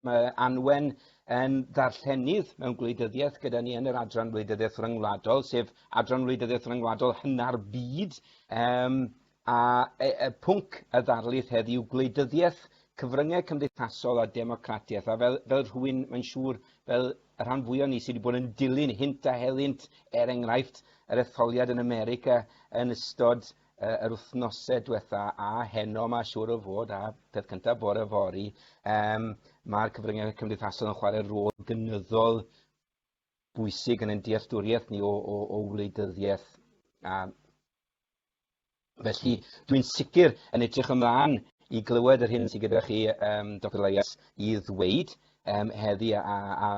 mae Anwen yn ddarllenydd mewn gwleidyddiaeth gyda ni yn yr adran wleidyddiaeth ryngwladol, sef adran wleidyddiaeth ryngwladol hynna'r byd. Um, A yw pwnc y ddarlith heddiw gwleidyddiaeth, cyfryngau cymdeithasol a democratiaeth, a fel, fel rhywun, mae'n siŵr, fel y rhan fwyaf o ni sydd wedi bod yn dilyn hynt a helynt, er enghraifft, yr etholiad yn America yn ystod uh, yr wythnosau diwetha a heno mae siŵr o fod a peth cyntaf bore fori, um, mae'r cyfryngau cymdeithasol yn chwarae rôl gynyddol bwysig yn ein dealltwriaeth ni o, o, o wleidyddiaeth a Felly, dwi'n sicr yn edrych ymlaen i glywed yr hyn sydd gyda chi, um, Dr Elias, i ddweud um, heddi a, a, a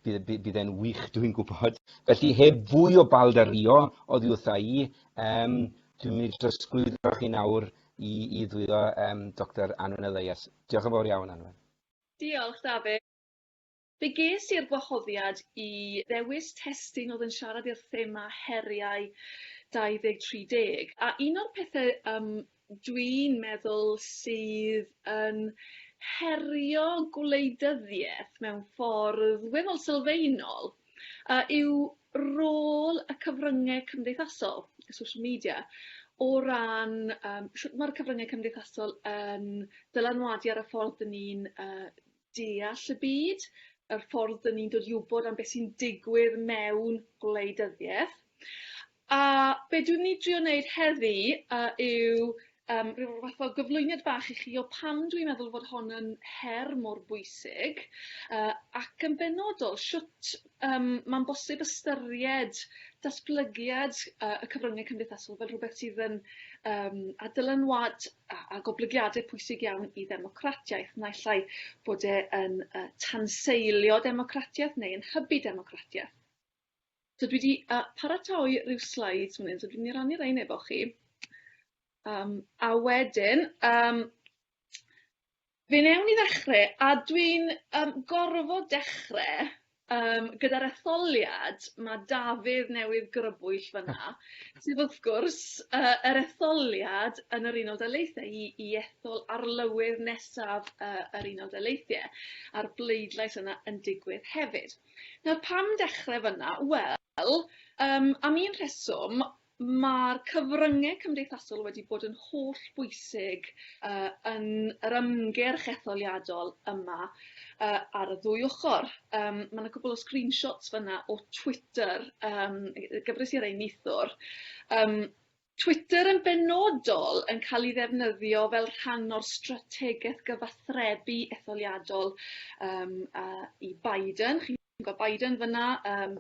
bydd, bydd, bydd e'n wych, dwi'n gwybod. Felly, heb fwy o bald a rio oddi wrtha i, um, dwi'n mynd i drosglwyddo chi nawr i, i ddwyddo um, Dr Anwen Elias. Diolch yn fawr iawn, Anwen. Diolch, David. Fe ges i'r gwahoddiad i ddewis testun oedd yn siarad i'r thema heriau 2030, a un o'r pethe yym dwi'n meddwl sydd yn herio gwleidyddieth mewn ffordd weddol sylfaenol yy yw rôl y cyfrynge cymdeithasol, y social media, o ran yym shwt ma'r cyfrynge cymdeithasol yn dylanwadu ar y ffordd 'dyn ni'n yy deall y byd, yr ffordd dyn ni'n dod i wybod am beth sy'n digwydd mewn gwleidyddiaeth. A be dwi'n mynd i drio wneud heddi uh, yw um, rhyw fath o gyflwyniad bach i chi o pam dwi'n meddwl fod hon yn her mor bwysig uh, ac yn benodol sut um, mae'n bosib ystyried datblygiad uh, y cyfryngau cymdeithasol fel rhywbeth sydd yn um, a dylanwad a, a goblygiadau pwysig iawn i ddemocratiaeth, naill ai bod e yn uh, tanseilio democratiaeth neu yn hybu democratiaeth. So dwi wedi uh, paratoi rhyw slides fan hyn, so dwi'n mynd i rannu rhain efo chi. Um, a wedyn, um, Fe newn ni ddechre a dwi'n yym gorfod dechre yym gyda'r etholiad ma' Dafydd newydd grybwyll fan 'na sydd wrth gwrs yy yr etholiad yn yr Unol Daleithiau i i ethol arlywydd nesaf yy yr Unol Daleithie a'r bleidlais yna yn digwydd hefyd. Nawr pam dechre fyn 'na? Wel yym am un rheswm Mae'r cyfryngau cymdeithasol wedi bod yn holl bwysig yn yr ymgyrch etholiadol yma ar y ddwy ochr. Mae 'na cwpwl o screenshots fanna o Twitter, gyfres i rei neithiwr. Twitter yn benodol yn cael ei ddefnyddio fel rhan o'r strategaeth gyfathrebu etholiadol i Biden. Gweld Biden fyna. Yym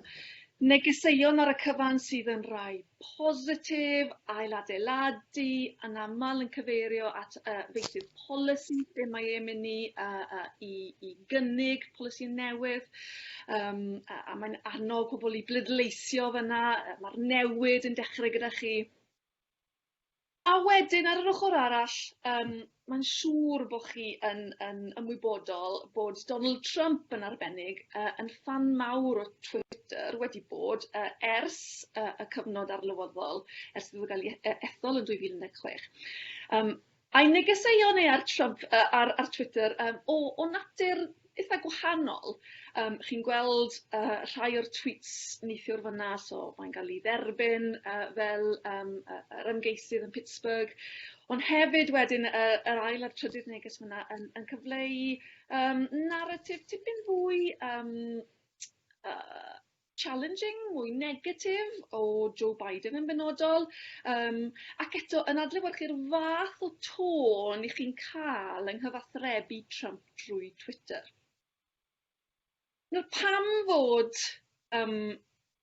negeseuon ar y cyfan sydd yn rai positif, ailadeiladu, anaml yn cyfeirio at y feysydd polisi lle mae e'n mynd i, uh, uh, i, i gynnig polisi newydd, um, a, a mae'n annog pobl i bleidleisio fyna, mae'r newid yn dechrau gyda chi. A wedyn ar yr ochor arall yym mae'n siŵr bo' chi yn yn ymwybodol bod Donald Trump yn arbennig yy yn ffan mawr o Twitter, wedi bod yy ers yy y cyfnod arlywyddol ers iddo fe ga'l 'i e- ethol yn dwy fil un deg chwech. Yym. Ai negeseuon neu ar Trump yy ar ar Twitter yym o o natur itha gwahanol yym chi'n gweld yy rhai o'r tweets neithiwr fyn 'na so mae'n ga'l 'i dderbyn yy fel yym yy yr ymgeisydd yn Pittsburgh ond hefyd wedyn y yr ail a'r trydydd neges fyn 'na yn yn cyfleu yym naratif tipyn fwy yym yy challenging, mwy negatif o Joe Biden yn benodol. Um, ac eto, yn adlewyrchu'r fath o tôn i chi'n cael yng nghyfathrebu Trump drwy Twitter. Nawr, pam fod um,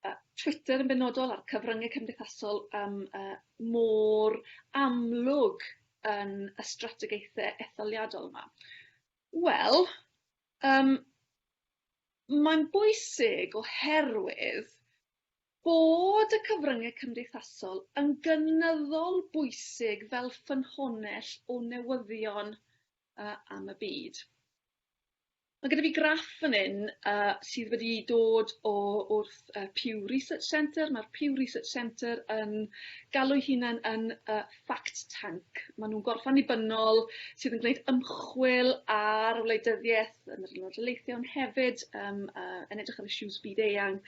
uh, Twitter yn benodol a'r cyfryngau cymdeithasol um, uh, mor amlwg yn y strategaethau etholiadol yma? Wel, um, Mae'n bwysig oherwydd bod y cyfryngau cymdeithasol yn gynyddol bwysig fel ffynhonnell o newyddion am y byd. Mae gyda fi graff fan hyn sydd wedi dod o wrth Pew Research Centre. Mae'r Pew Research Centre yn galw'i hunan yn fact tank. Maen nhw'n gorffan nibynnol sydd yn gwneud ymchwil ar wleidyddiaeth yn yr Unol Daleithiau, ond hefyd um, uh, yn edrych ar issues byd eang.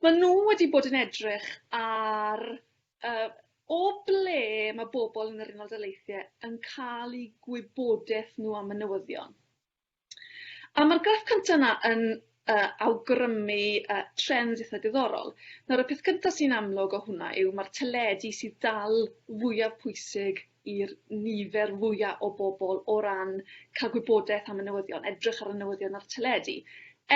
Maen nhw wedi bod yn edrych ar uh, o ble mae bobl yn yr Unol Daleithiau yn cael eu gwybodaeth nhw am y newyddion. A ma'r graff cynta 'na yn yy awgrymu yy trend itha diddorol. Nawr y peth cynta sy'n amlwg o hwnna yw ma'r teledu sydd dal fwyaf pwysig i'r nifer fwya' o bobol o ran ca'l gwybodeth am y newyddion, edrych ar y newyddion ar y teledu,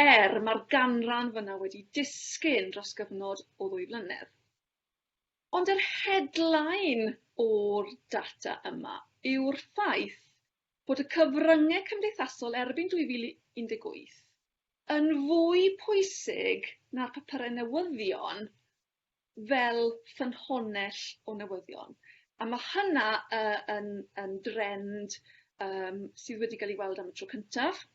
er ma'r ganran fyna wedi disgyn dros gyfnod o ddwy flynedd. Ond yr headline o'r data yma yw'r ffaith bod y cyfryngau cymdeithasol erbyn 2018 yn fwy pwysig na'r papurau newyddion fel ffynhonnell o newyddion, a ma' hynna yy yn yn drend yym sydd wedi ga'l 'i weld am y tro cyntaf.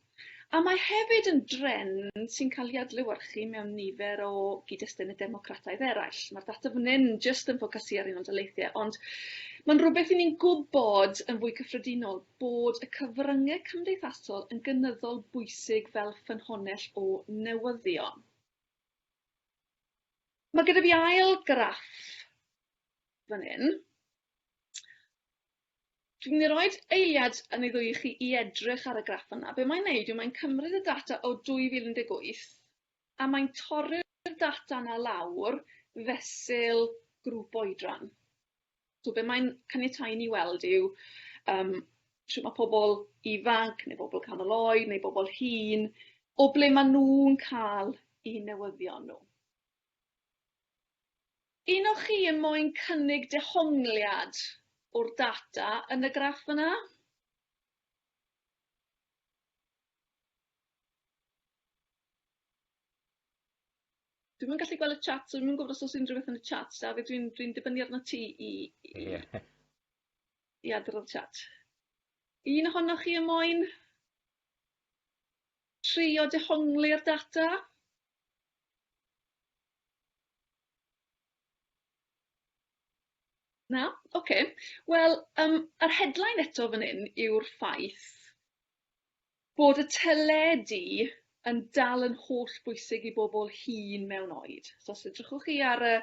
A mae hefyd yn drend sy'n cael ei adlewyrchu mewn nifer o gyd-destune democrataidd eraill. Mae'r data fan hyn jyst yn ffocysu ar Unol Daleithiau, ond mae'n rhywbeth i ni'n gwybod yn fwy cyffredinol bod y cyfryngau cymdeithasol yn gynyddol bwysig fel ffynhonnell o newyddion. Mae gyda fi ail graff fan hyn. Dwi'n mynd i roid eiliad yn ei ddwy i chi i edrych ar y graff yna. Be mae'n neud yw mae'n cymryd y data o 2018 a mae'n torri'r data yna lawr fesul grŵp oedran. So be mae'n caniatáu i ni weld yw yym shwt ma' pobol ifanc neu bobol canol oed neu bobol hŷn o ble ma' nw'n ca'l 'u newyddion nw. Un o chi yn moyn cynnig dehongliad o'r data yn y graff yna? Dwi'm yn gallu gweld y chat so dwi'm yn gwybod os oes unrhyw beth yn y chat. Dafydd dwi'n dwi'n dibynnu arnot ti i i i adrodd y chat. Un ohonoch chi yn moyn trio dehongli'r data? Na? Ocê, wel yym yr headline eto fan hyn yw'r ffaith bod y teledu yn dal yn hollbwysig i bobol hŷn mewn oed, so os edrychwch chi ar y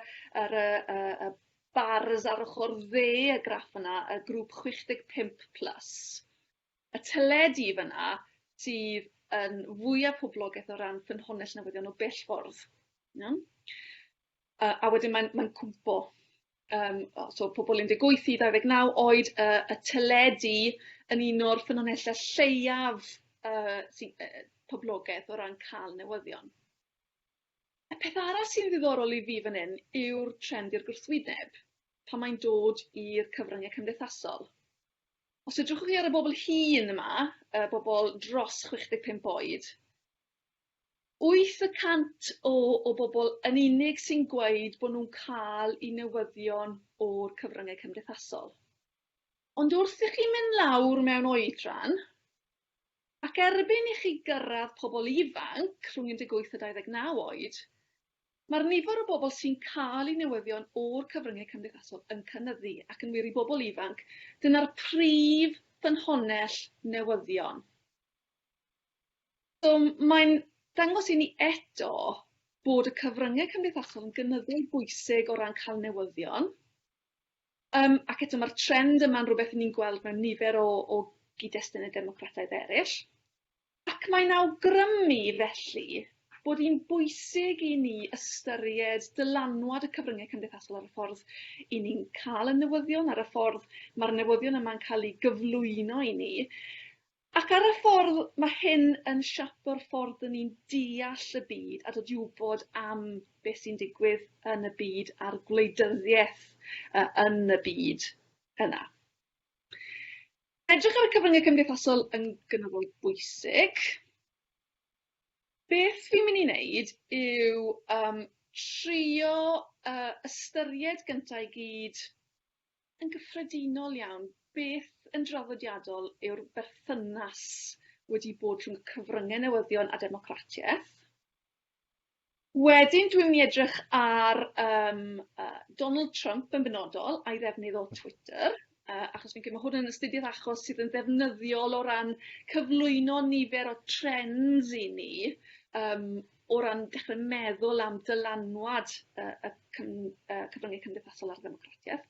ar y y y bars ar ochor dde y graff yna, y grŵp chwech deg pump plus, Y teledu fan'na sydd yn fwya poblogeth o ran ffynhonnell newyddion o bell ffordd. Iawn? A, a wedyn mae'n mae'n cwmpo um, so pobl 18 i 29 oed, uh, y teledu yn un o'r ffynonellau lleiaf uh, sy, uh, poblogaeth o ran cael newyddion. Y peth arall sy'n ddiddorol i fi fan hyn yw'r trend i'r gwrthwyneb, pan mae'n dod i'r cyfryngau cymdeithasol. Os edrychwch chi ar y bobl hŷn yma, y bobl dros 65 oed, 8 y cant o o bobl yn unig sy'n gweud bod nhw'n cael eu newyddion o'r cyfryngau cymdeithasol. Ond wrth i chi mynd lawr mewn oedran, ac erbyn i chi gyrraedd pobl ifanc rhwng 18 a 29 oed, Mae'r nifer o bobl sy'n cael eu newyddion o'r cyfryngau cymdeithasol yn cynyddu, ac yn wir, i bobl ifanc, dyna'r prif ffynhonnell newyddion. So, mae'n dangos i ni eto bod y cyfryngau cymdeithasol yn gynyddu eu bwysig o ran cael newyddion, um, ac eto mae'r trend yma'n rhywbeth ni'n gweld mewn nifer o, o gyd-destun y democrataidd eraill. Ac mae'n awgrymu, felly, bod hi'n bwysig i ni ystyried dylanwad y cyfryngau cymdeithasol ar y ffordd i ni'n cael y newyddion, ar y ffordd mae'r newyddion yma'n cael eu gyflwyno i ni, ac ar y ffordd mae hyn yn siapo'r ffordd dŷn ni'n deall y byd a dod i wybod am beth sy'n digwydd yn y byd a'r gwleidyddiaeth yn y byd yna. Edrych ar y cyfryngau cymdeithasol yn gynyddol bwysig. Beth fi'n mynd i wneud yw um, trio uh, ystyried gyntaf i gyd yn gyffredinol iawn beth yn draddodiadol yw'r berthynas wedi bod rhwng cyfryngau newyddion a democratiaeth. Wedyn dwi'n mynd i edrych ar yym yy Donald Trump yn benodol a'i ddefnydd o Twitter yy achos fi'n credu ma' hwn yn astudiaeth achos sydd yn ddefnyddiol o ran cyflwyno nifer o trends i ni yym o ran dechre meddwl am dylanwad yy y cym- yy cyfrynge cymdeithasol ar ddemocratieth.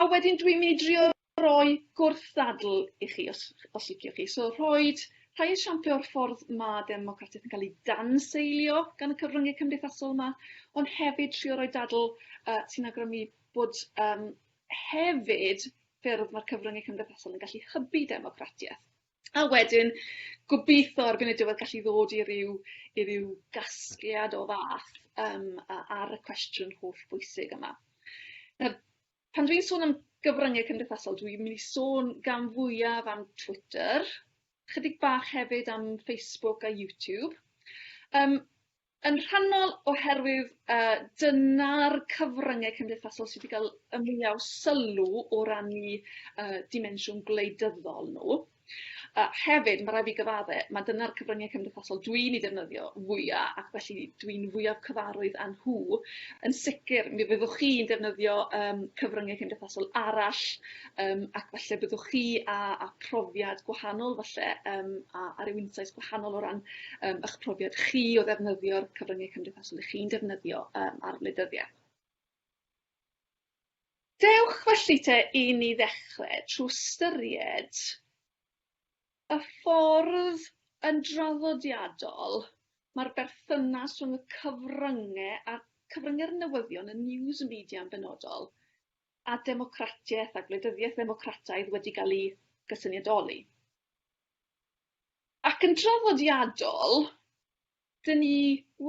A wedyn dwi'n mynd i drio roi gwrthddadl i chi os os liciwch chi. So rhoid rhai esiampl o'r ffordd ma' democratiaeth yn cael ei danseilio gan y cyfryngau cymdeithasol yma, ond hefyd trio roi dadl yy sy'n awgrymu bod yym hefyd ffyrdd ma'r cyfryngau cymdeithasol yn gallu hybu democratiaeth. A wedyn gobeitho ar fin y diwedd gallu ddod i ryw i ryw gasgliad o fath yym a- ar y cwestiwn hollbwysig yma. Nawr pan dwi'n sôn am gyfrynge cymdeithasol dwi'n myn' i sôn gan fwyaf am Twitter, chydig bach hefyd am Facebook a YouTube. Yym. Yn rhannol oherwydd yy dyna'r cyfrynge cymdeithasol sy 'di ga'l y mwya' o sylw o ran 'u yy dimensiwn gwleidyddol nhw. A hefyd ma' rai' fi gyfadde ma' dyna'r cyfrynge cymdeithasol dwi'n 'u defnyddio fwya' ac felly dwi'n fwyaf cyfarwydd â nhw. Yn sicr mi fyddwch chi'n defnyddio yym cyfrynge cymdeithasol arall Yym ac falle byddwch chi â â profiad gwahanol falle yym a a ryw insights gwahanol o ran yym 'ych profiad chi o ddefnyddio'r cyfryngau cymdeithasol 'ych chi'n defnyddio yym ar wleidyddiaeth. Dewch felly te i ni ddechre trw ystyried y ffordd yn draddodiadol ma'r berthynas rhwng y cyfrynge a'r cyfrynge'r newyddion y news media yn benodol a democratiaeth a gwleidyddiaeth ddemocrataidd wedi cael eu cysyniadoli. Ac yn draddodiadol, dyn ni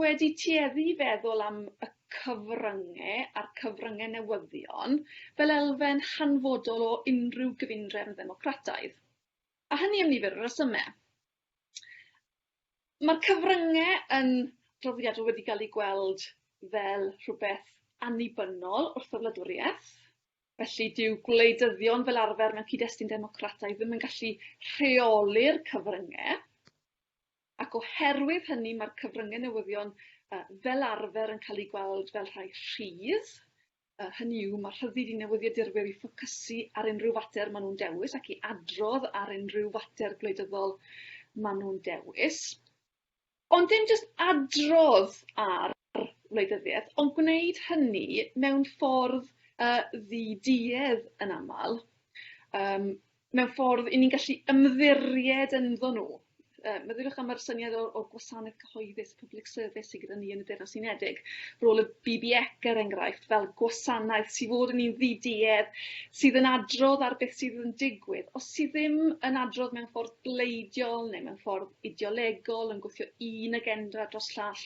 wedi tueddu i feddwl am y cyfrynge a'r cyfrynge newyddion fel elfen hanfodol o unrhyw gyfundrefn ddemocrataidd, a hynny am nifer o resymau. Mae'r cyfrynge yn draddodiadol wedi gael eu gweld fel rhywbeth annibynnol wrth y wladwriaeth, felly dyw gwleidyddion fel arfer mewn cyd-destun democrataidd ddim yn gallu rheoli'r cyfrynge, ac oherwydd hynny mae'r cyfrynge newyddion fel arfer yn cael eu gweld fel rhai rhydd, a hynny yw, mae rhyddid i newyddiadurwyr i ffocysu ar unrhyw fater maen nhw'n dewis ac i adrodd ar unrhyw fater gwleidyddol maen nhw'n dewis. Ond dim jyst adrodd ar wleidyddiaeth, ond gwneud hynny mewn ffordd uh, ddi-duedd yn aml. Um, mewn ffordd 'yn ni'n gallu ymddiried ynddo nhw. Yy meddyliwch am yr syniad o o gwasanaeth cyhoeddus, public service, sy gyda ni yn y Deyrnas Unedig. Rôl y BBEC er enghraifft fel gwasanaeth sy fod yn un ddiduedd sydd yn adrodd ar beth sydd yn digwydd. Os sydd ddim yn adrodd mewn ffordd bleidiol neu mewn ffordd ideolegol yn gwthio un agenda dros llall,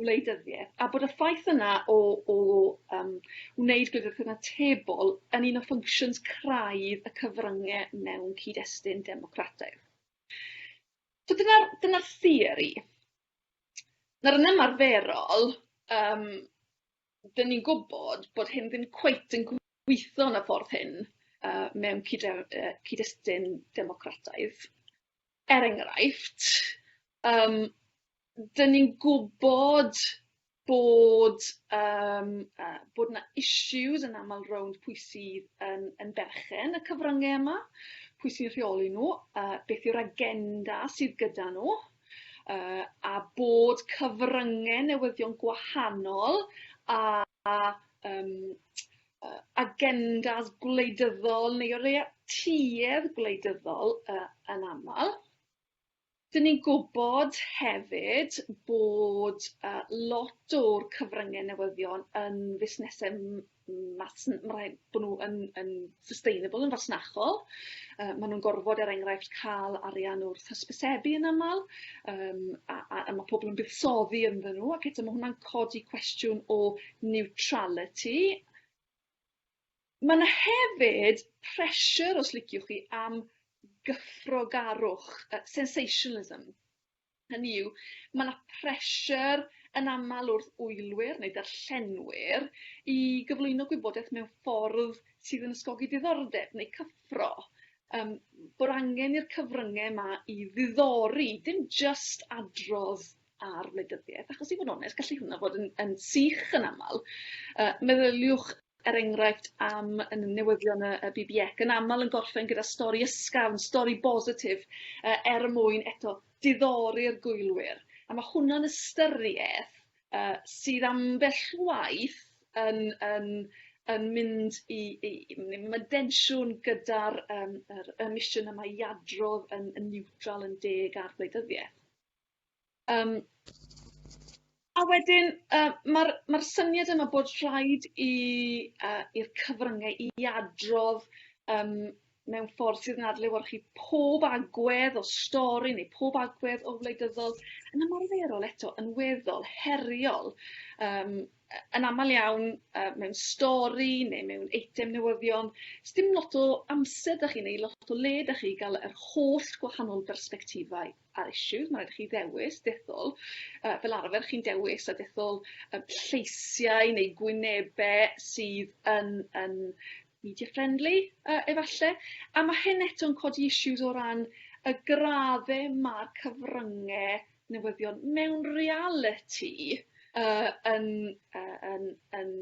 wleidyddiaeth, a bod y ffaith yna o o yym wneud gwleidyddiaeth yn atebol yn un o ffynctions craidd y cyfrynge mewn cyd-destun democrataidd. So dyna'r dyna'r theori. Nawr yn ymarferol, um, dyn ni'n gwybod bod hyn ddim cweit yn gweithio yn y ffordd hyn uh, mewn cyd-destun democrataidd. Er enghraifft, um, 'dyn ni'n gwbod bod yym yy bod 'na issues yn amal rownd pwy sydd yn yn berchen y cyfrynge yma, pwy sy'n rheoli nw, a beth yw'r agenda sydd gyda nw, yy a bod cyfrynge newyddion gwahanol a a yym yy agendas gwleidyddol neu o leia tuedd gwleidyddol yy yn amal. Dyn ni'n gwybod hefyd bod yy lot o'r cyfrynge newyddion yn fusnese m- m- masn- ma' raid bo' nw yn yn sustainable yn fasnachol yy ma' nw'n gorfod er enghraifft ca'l arian wrth hysbysebu yn amal yym a a a ma' pobol yn buddsoddi ynddyn nw ac eto ma' hwnna'n codi cwestiwn o niwtraliti. Ma' 'na hefyd pressure os liciwch chi am gyffrogarwch yy sensationalism, hynny yw ma' 'na pressure yn amal wrth wylwyr neu darllenwyr i gyflwyno gwybodaeth mewn ffordd sydd yn ysgogi diddordeb neu cyffro yym bod angen i'r cyfrynge 'ma i ddiddori dim jyst adrodd ar wleidyddiaeth, achos i fod yn onest, gallu hwnna fod yn, yn sych yn aml. Uh, meddyliwch er enghraifft am yn newyddion y, y BBEC yn aml yn gorffen gyda stori ysgafn, stori bositif, uh, er mwyn eto diddori'r gwylwyr. A mae hwnna'n ystyriaeth uh, sydd ambell waith yn, yn, yn mynd i, i, i mae densiwn gyda'r um, er, y misiwn yma i adrodd yn, yn niwtral, yn deg ar gwleidyddiaeth. Yym a wedyn yy ma'r ma'r syniad yma bod rhaid i yy i'r cyfrynge i adrodd yym mewn ffordd sydd yn adlewyrchu pob agwedd o stori neu pob agwedd o wleidyddol yn ymarferol eto yn weddol heriol yym yy yn amal iawn yy mewn stori ne' mewn eitem newyddion sdim lot o amser 'da chi neu lot o le 'da chi i ga'l yr holl gwahanol bersbectifau. ar issues ma' raid i chi ddewis dethol yy fel arfer chi'n dewis y dethol y lleisiau neu gwynebe sydd yn yn media friendly yy efalle a ma' hyn eto'n codi issues o ran y gradde ma'r cyfrynge newyddion mewn realiti yy yn yy yn yn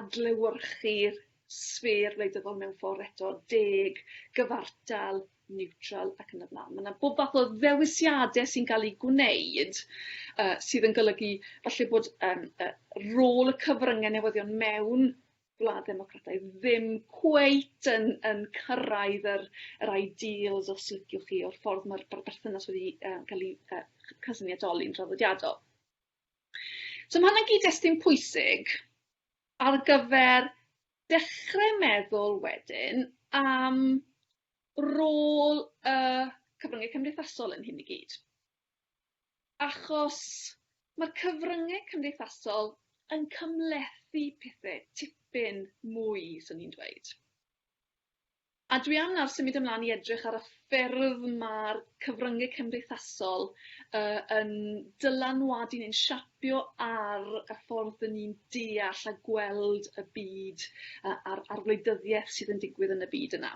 adlewyrchu'r sfêr wleidyddol mewn ffor eto deg, gyfartal, niwtral ac yn y blaen. Mae yna bob fath o ddewisiadau sy'n cael eu gwneud uh, sydd yn golygu falle bod um, uh, rôl y cyfryngau newyddion mewn gwlad ddemocratau ddim cweit yn, yn cyrraedd yr, yr ideals os liciwch chi o'r ffordd mae'r berthynas wedi uh, cael ei uh, cysyniadoli'n draddodiadol. So mae hynny'n gyd-destun pwysig ar gyfer dechrau meddwl wedyn am rôl y cyfryngau cymdeithasol yn hyn i gyd achos ma'r cyfryngau cymdeithasol yn cymhlethu pethe tipyn mwy swn i'n dweud. A dwi am nawr symud ymlan i edrych ar y ffyrdd ma'r cyfryngau cymdeithasol yy yn dylanwadu neu'n siapio Bio ar y ffordd dyn ni'n deall a gweld y byd a a'r a'r wleidyddieth sydd yn digwydd yn y byd yna.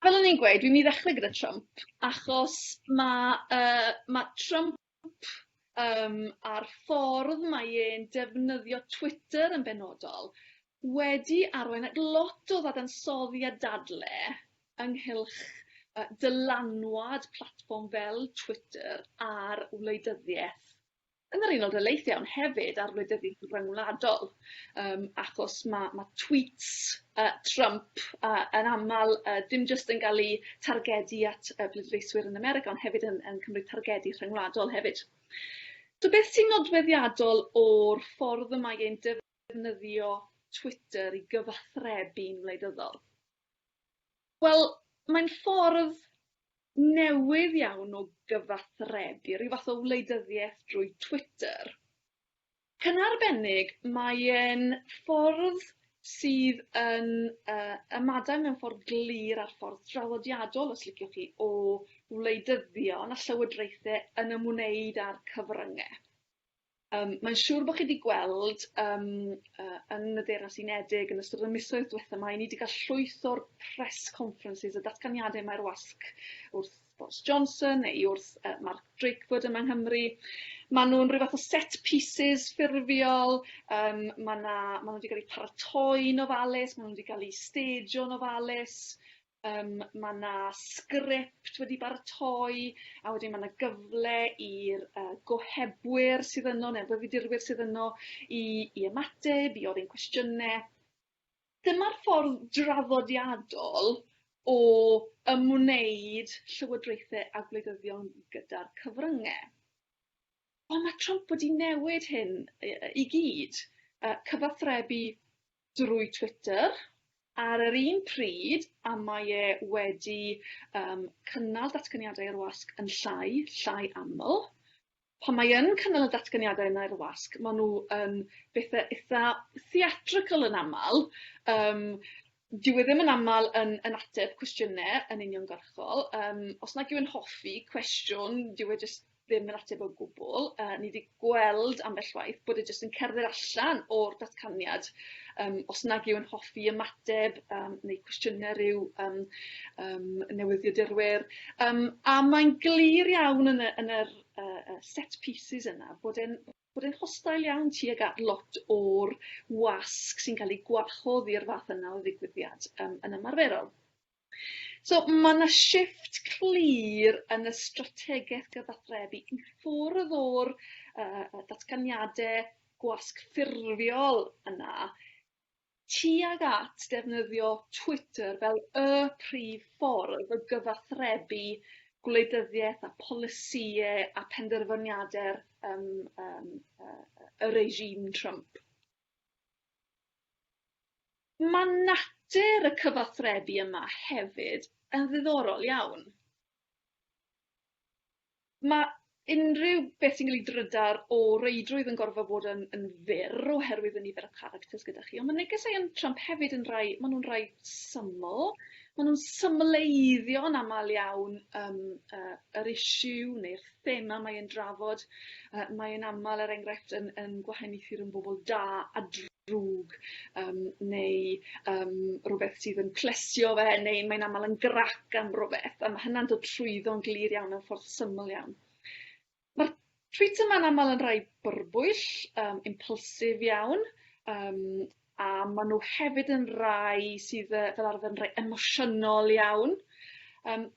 Fel o'n i'n gweud dwi myn' i ddechre gyda Trump achos ma' yy ma' Trump yym a'r ffordd mae e'n defnyddio Twitter yn benodol wedi arwain at lot o ddadansoddi a dadle ynghylch yy dylanwad platfform fel Twitter ar wleidyddieth yn yr Unol Daleithiau ond hefyd ar wleidyddiaeth ryngwladol yym achos ma' ma' tweets yy Trump a yn amal yy dim jyst yn ga'l 'u targedu at yy pleidleiswyr yn America ond hefyd yn yn cymryd targedu rhyngwladol hefyd. So beth sy'n nodweddiadol o'r ffordd y mae ein defnyddio Twitter i gyfathrebu'n wleidyddol? Wel, mae'n ffordd newydd iawn o gyfathrebu, rhyw fath o wleidyddiaeth drwy Twitter. Ac yn arbennig, mae e'n ffordd sydd yn uh, ymadael mewn ffordd glir â'r ffordd draddodiadol, os liciwch chi, o wleidyddion a llywodraethau yn ymwneud â'r cyfryngau. Yym, mae'n siŵr bod chi 'di gweld yym yy yn y Deyrnas Unedig yn ystod y misoedd diwetha' 'ma, 'yn ni 'di ga'l llwyth o'r press conferences, y datganiade mae'r wasg wrth Boris Johnson neu wrth yy Mark Drakeford yma yng Nghymru. Ma' nw'n ryw fath o set pieces ffurfiol, yym ma' 'na ma' nw 'di ga'l 'u paratoi'n ofalus, ma' nw 'di ga'l 'u stajo'n ofalus. Yym ma' 'na sgript wedi baratoi a wedyn ma' 'na gyfle i'r yy gohebwyr sydd yno ne'r fyfyfyrdurwyr sydd yno i i ymateb i ofyn cwestiyne. Dyma'r ffordd draddodiadol o ymwneud llywodraethe a gwleidyddion gyda'r cyfrynge. Ond ma' Trump wedi newid hyn i yy i gyd. Yy cyfathrebu drwy Twitter ar yr un pryd a mae e wedi yym cynnal datganiadau i'r wasg yn llai, llai aml. Pan mae yn cynnal y datganiadau yna i'r wasg ma' nhw yn bethe itha theatrical yn amal yym dyw e ddim yn amal yn yn ateb cwestiyne yn uniongyrchol yym os nag yw e'n hoffi cwestiwn dyw e jyst ddim yn ateb o gwbl. Uh, ni wedi gweld ambell waith bod e jyst yn cerdded allan o'r datganiad um, os nag yw'n hoffi ymateb um, neu cwestiynau rhyw um, um, newyddiadurwyr. Um, a mae'n glir iawn yn y, yn yr uh, set pieces yna bod e'n bod e'n hostail iawn tuag at lot o'r wasg sy'n cael ei gwahodd i'r fath yna o ddigwyddiad um, yn ymarferol. So, mae 'na shifft clir yn y strategaeth gyfathrebu i ffwrdd o'r yy datganiadau gwasg ffurfiol yna tuag at ddefnyddio Twitter fel y prif ffordd o gyfathrebu gwleidyddiaeth a polisïau a phenderfyniadau'r yym yym yy y regime Trump. Ma' natur y cyfathrebu yma hefyd yn ddiddorol iawn. Ma' unrhyw beth sy'n ga'l drydar o reidrwydd yn gorfod bod yn yn fyr oherwydd y nifer o characters gyda chi on' ma' negeseuon yn Trump hefyd yn rai ma' nw'n rai syml ma' nw'n symleiddio yn amal iawn yym yy yr issue neu'r thema mae e'n drafod. Yy mae e'n amal er enghraifft yn yn gwahaniaethu rhwng bobol da a drwg yym neu yym rwbeth sydd yn plesio fe neu mae'n amal yn grac am rwbeth a ma' hynna'n dod trwyddo'n glir iawn mewn ffordd syml iawn. Ma'r trwyt yma'n amal yn rai byrbwyll yym impulsive iawn yym a ma' nw hefyd yn rai sydd yy fel arfer yn rei emosiynol iawn. Yym.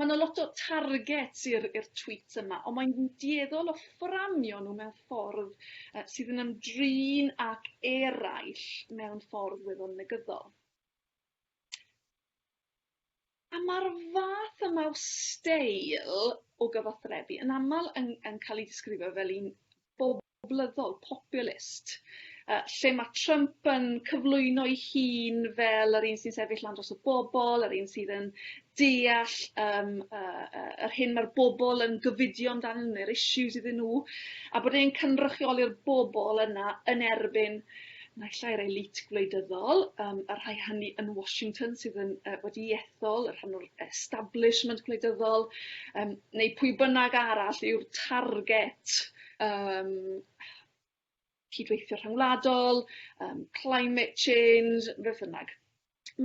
Ma' 'na lot o targets i'r i'r tweets yma on' mae'n dueddol o fframio nhw mewn ffordd yy sydd yn ymdrin ag eraill mewn ffordd weddol negyddol. A ma'r fath yma o steil o gyfathrebu yn amal yn yn ca'l 'i disgrifio fel un boblogaidd blyddol, populist, lle mae Trump yn cyflwyno'i hun fel yr un sy'n sefyll lan dros y bobl, yr un sydd yn deall um, uh, uh, yr hyn mae'r bobl yn gyfidio amdanyn nhw, neu'r issues iddyn nhw, a bod e'n cynrychioli'r bobl yna yn erbyn naill ai'r elit gwleidyddol, um, y rhai hynny yn Washington sydd yn, uh, wedi ethol, y rhan o'r establishment gwleidyddol, um, neu pwy bynnag arall yw'r target yym cydweithio rhyngwladol, yym climate change, beth bynnag.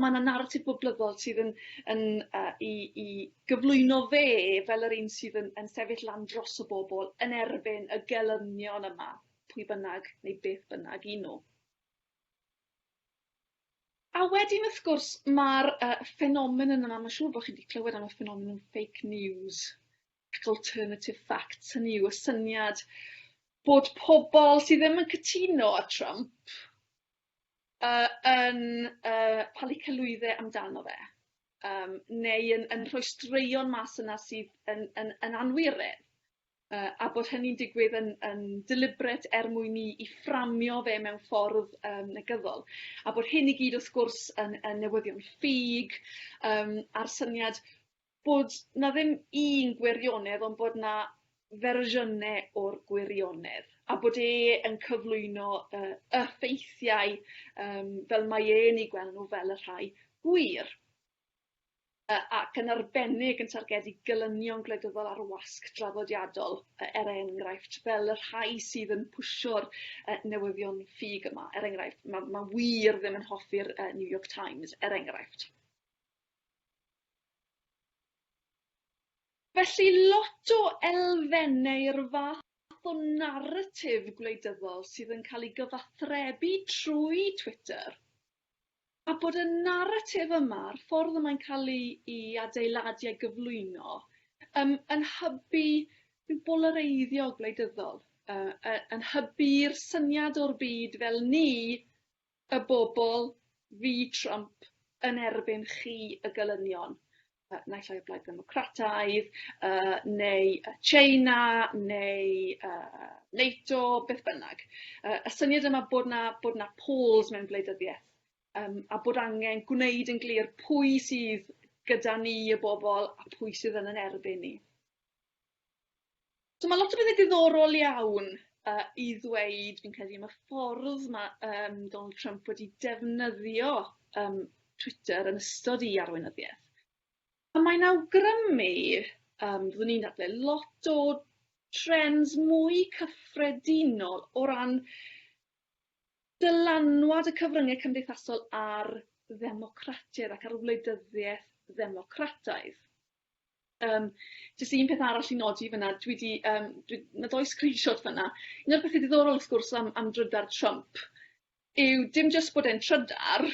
Ma' 'na naratif boblyddol sydd yn yn yy i i gyflwyno fe fel yr un sydd yn yn sefyll lan dros y bobol yn erbyn y gelynion yma, pwy bynnag neu beth bynnag 'yn nw. A wedyn wrth gwrs ma'r yy ffenomenon yma ma' siŵr bo' chi 'di clywed am y ffenomenon fake news. Fact alternative facts, hynny yw y syniad bod pobl sydd ddim yn cytuno â Trump yy yn yy palu celwydde amdano fe yym neu yn yn rhoi straeon mas yna sydd yn yn yn anwiredd yy a bod hynny'n digwydd yn yn deliberate er mwyn i i fframio fe mewn ffordd yym negyddol. A bod hyn i gyd wrth gwrs yn yn newyddion ffug yym a'r syniad bod 'na ddim un gwirionedd ond bod 'na fersiynne o'r gwirionedd a bod e yn cyflwyno y y ffeithiau yym fel mae e'n 'u gweld nw fel y rhai gwir yy ac yn arbennig yn targedu gelynion gwleidyddol ar wasg draddodiadol yy er enghraifft fel y rhai sydd yn pwshio'r yy newyddion ffug yma er enghraifft ma' ma' wir ddim yn hoffi'r yy New York Times er enghraifft. Felly, lot o elfennau'r fath o naratif gwleidyddol sydd yn cael ei gyfathrebu trwy Twitter, a bod y naratif yma, a'r ffordd y mae'n cael ei adeiladu a'i gyflwyno, yym yn hybu rhyw bolareiddio gwleidyddol, yy yn hybu'r syniad o'r byd fel ni Y bobl, fi Trump, yn erbyn chi y gelynion, naill ai y Blaid Ddemocrataidd, neu China, neu NATO, beth bynnag. Y syniad yma bod 'na bod 'na poles mewn gwleidyddiaeth yym a bod angen gwneud yn glir pwy sydd gyda ni y bobl a pwy sydd yn yn erbyn ni. So ma' lot o bethe diddorol iawn yy i ddweud fi'n credu am y ffordd ma' yym Donald Trump wedi defnyddio yym Twitter yn ystod 'i arweinyddieth. A mae'n awgrymu yym byddwn i'n dadlau lot o trends mwy cyffredinol o ran dylanwad y cyfrynge cymdeithasol ar ddemocratiaeth ac ar wleidyddiaeth ddemocrataidd. Yym jyst un peth arall i nodi fyn 'na dwi 'di yym dwi... Ma' dou screenshot fyn 'na. Un o'r pethe diddorol wrth gwrs am am drydar Trump yw dim jyst bod e'n trydar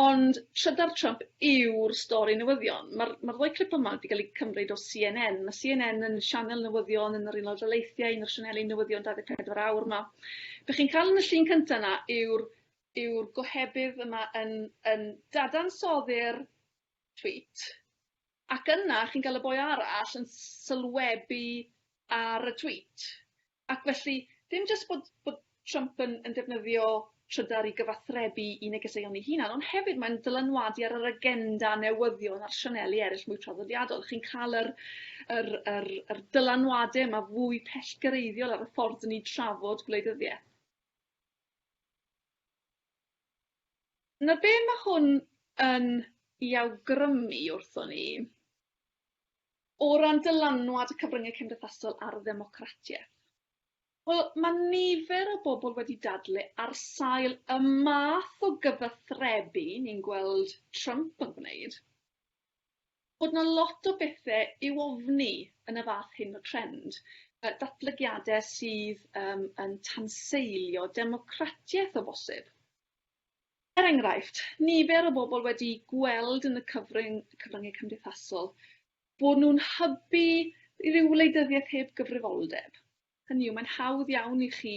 ond trydar Trump yw'r stori newyddion. Ma'r ma'r ddou clip yma 'di ga'l 'u cymryd o See En En. Ma' See En En yn sianel newyddion yn yr Unol Daleithiau, un o'r sianeli newyddion 24 awr 'ma. Be' chi'n ca'l yn y llun cynta 'na yw'r yw'r gohebydd yma yn yn dadansoddi'r Tweet. Ac yna chi'n cael y boi arall yn sylwebu ar y tweet. Ac felly, dim jyst bod bod Trump yn yn defnyddio trydar i gyfathrebu i negeseuon ei hunan ond hefyd mae'n dylanwadu ar yr agenda newyddion a'r sianeli eryll mwy traddodiadol. Chi'n ca'l yr yr yr yr dylanwade yma fwy pellgyrhaeddiol ar y ffordd 'dyn ni'n trafod gwleidyddieth. Na be ma' hwn yn 'i awgrymu wrthon ni, o ran dylanwad y cyfryngau cymdeithasol ar ddemocratiaeth? Wel, ma' nifer o bobl wedi dadle ar sail y math o gyfathrebu ni'n gweld Trump yn gwneud, bod 'na lot o bethe i'w ofni yn y fath hyn o trend, yy datblygiade sydd yym yn tanseilio democratiaeth o bosib. Er enghraifft, nifer o bobl wedi gweld yn y cyfryng, cyfryngau cymdeithasol bod nhw'n hybu rhyw wleidyddiaeth heb gyfrifoldeb. Hynny yw, mae'n hawdd iawn i chi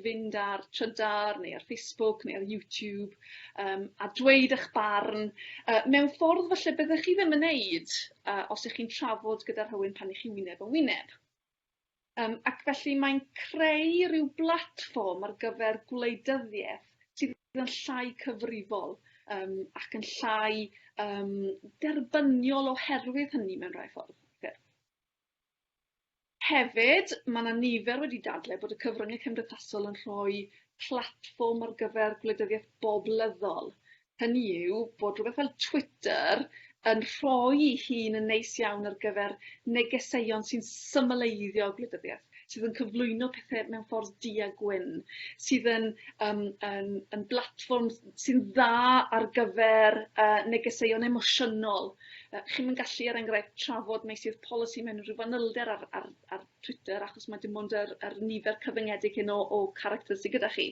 fynd ar Trydar neu ar Facebook neu ar YouTube a dweud eich barn mewn ffordd falle byddech chi ddim yn neud os ych chi'n trafod gyda rhywun pan ych chi wyneb yn wyneb. Ac felly mae'n creu rhyw blatfform ar gyfer gwleidyddiaeth sydd yn llai cyfrifol ac yn llai derbyniol oherwydd hynny mewn rhai ffordd. Hefyd, mae 'na nifer wedi dadlau bod y cyfryngau cymdeithasol yn rhoi platfform ar gyfer gwleidyddiaeth boblyddol, hynny yw, bod rhywbeth fel Twitter yn rhoi'i hun yn neis iawn ar gyfer negeseuon sy'n symleiddio gwleidyddiaeth, sydd yn cyflwyno pethe mewn ffordd du a gwyn, sydd yn yym yn yn blatfform sy'n dda ar gyfer yy negeseuon emosiynol Yy chi'm yn gallu er enghraifft trafod meysydd polisi mewn rhyw fanylder ar ar ar Twitter achos ma' dim ond yr yr nifer cyfyngedig hyn o o characters sy gyda chi.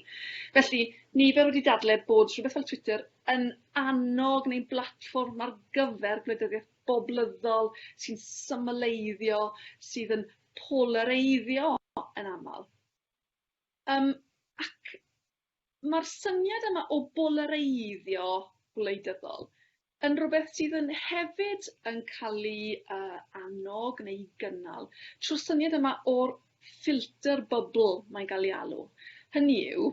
Felly nifer wedi dadle bod rhwbeth fel Twitter yn annog neu'n blatfform ar gyfer gwleidyddiaeth boblyddol sy'n symleiddio sydd yn polareiddio yn amal. Yym ac ma'r syniad yma o bolareiddio gwleidyddol yn rwbeth sydd yn hefyd yn ca'l 'i yy annog neu 'i gynnal trw'r syniad yma o'r filter bubble mae'n ga'l 'i alw. Hynny yw,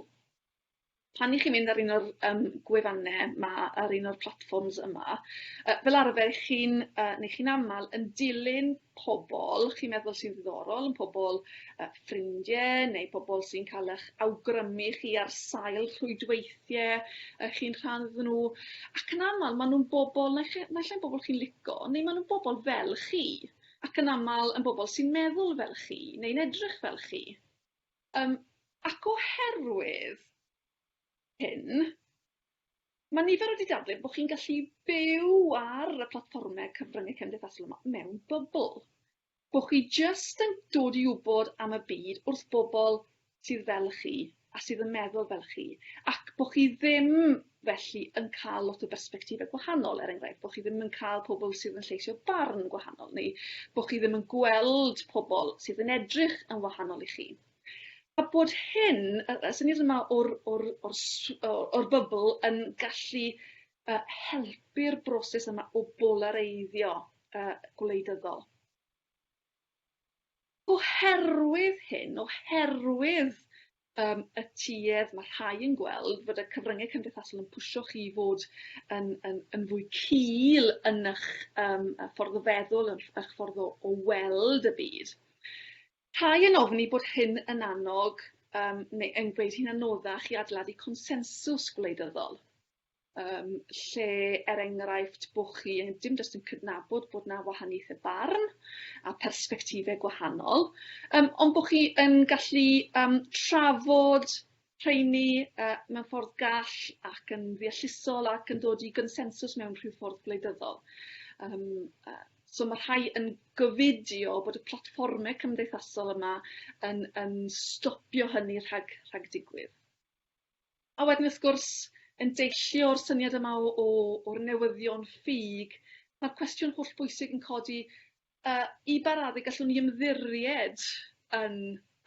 pan 'ych chi'n mynd ar un o'r yym gwefanne 'ma ar un o'r platfforms yma yy fel arfer 'ych chi'n yy ne' chi'n amal yn dilyn pobl chi'n meddwl sy'n ddiddorol, yn pobl uh, ffrindie neu pobl sy'n cael eich awgrymu chi ar sail rhwydweithiau uh, chi'n rhan iddyn nhw. Ac yn aml, maen nhw'n bobl, naill ai'n bobl chi'n lico, neu maen nhw'n bobl fel chi. Ac yn aml yn bobl sy'n meddwl fel chi, neu'n edrych fel chi. Um, ac oherwydd hyn, mae nifer wedi dadlau bod chi'n gallu byw ar y platfformau cyfryngau cymdeithasol yma mewn bybl. Bod chi jyst yn dod i wybod am y byd wrth bobl sydd fel chi a sydd yn meddwl fel chi ac bod chi ddim felly yn cael lot o bersbectifau gwahanol, er enghraifft, bod chi ddim yn cael pobl sydd yn lleisio barn gwahanol neu bod chi ddim yn gweld pobl sydd yn edrych yn wahanol i chi. A bod hyn, y y syniad yma o'r o'r o'r sw- o o'r bybl yn gallu yy helpu'r broses yma o bolareiddio yy gwleidyddol. Oherwydd hyn, oherwydd yym y tuedd ma' rhai yn gweld fod y cyfrynge cymdeithasol yn pwsio chi i fod yn yn yn fwy cul yn 'ych yym y ffordd o feddwl yn 'ych ffordd o o weld y byd. Rhai yn ofni bod hyn yn annog yym neu yn gwneud hi'n anoddach i adeiladu consensws gwleidyddol, yym lle, er enghraifft, bo' chi yn dim jyst yn cydnabod bod 'na wahaniaethe barn a persbectife gwahanol, yym ond bo' chi yn gallu yym trafod rheiny yy mewn ffordd gall ac yn ddeallusol ac yn dod i gonsensws mewn rhyw ffordd gwleidyddol. Yym yy so ma' rhai yn gofidio bod y platfforme cymdeithasol yma yn yn stopio hynny rhag rhag digwydd. A wedyn wrth gwrs yn deillio o'r syniad yma o o o'r newyddion ffug ma'r cwestiwn hollbwysig yn codi A i ba raddau gallwn ni ymddiried yn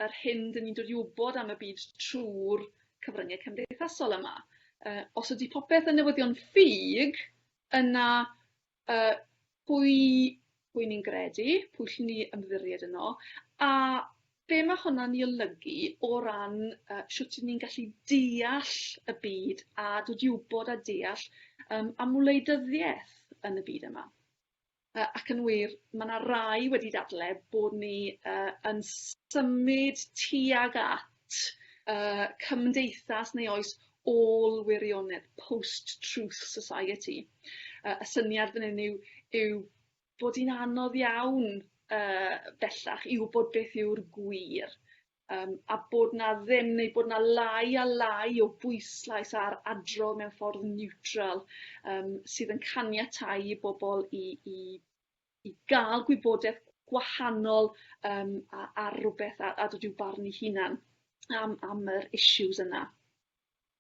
yr hyn dyn ni'n dod i wybod am y byd trwy'r cyfryngau cymdeithasol yma? Uh, os ydy popeth yn newyddion ffug, yna uh, pwy, pwy ni'n gredu, pwy llwn ni ymddiried yno, a be mae hwnna'n ei olygu o ran uh, sut ni'n gallu deall y byd a dod i wybod a deall um, am wleidyddiaeth yn y byd yma. Yy ac yn wir ma' 'na rai wedi dadle' bod ni yy yn symud tuag at yy cymdeithas neu oes ôl wirionedd, post truth society yy y syniad fan 'yn yw yw bod 'i'n anodd iawn yy bellach i wbod beth yw'r gwir. Yym a bod 'na ddim neu bod 'na lai a lai o bwyslais ar adrodd mewn ffordd niwtral yym sydd yn caniatáu i bobol i i i ga'l gwybodeth gwahanol yym a ar rwbeth a a dod i'w barn 'i hunan am am yr issues yna.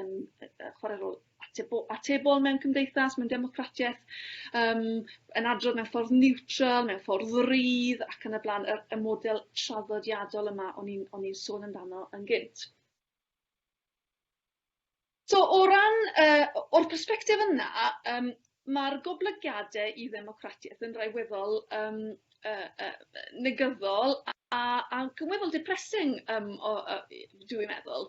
yn yy yy chware rôl atebo- atebol mewn cymdeithas, mewn democratieth, yym yn adrodd mewn ffordd niwtral, mewn ffordd rydd ac yn y bla'n, y y model traddodiadol yma o'n i'n o'n i'n sôn amdano yn gynt. So o ran yy o- o'r persbectif yna yym ma'r goblygiade i ddemocratieth yn rhai weddol yym yy yy yy negyddol a a a weddol depressing yym o yy yy dw i'n meddwl.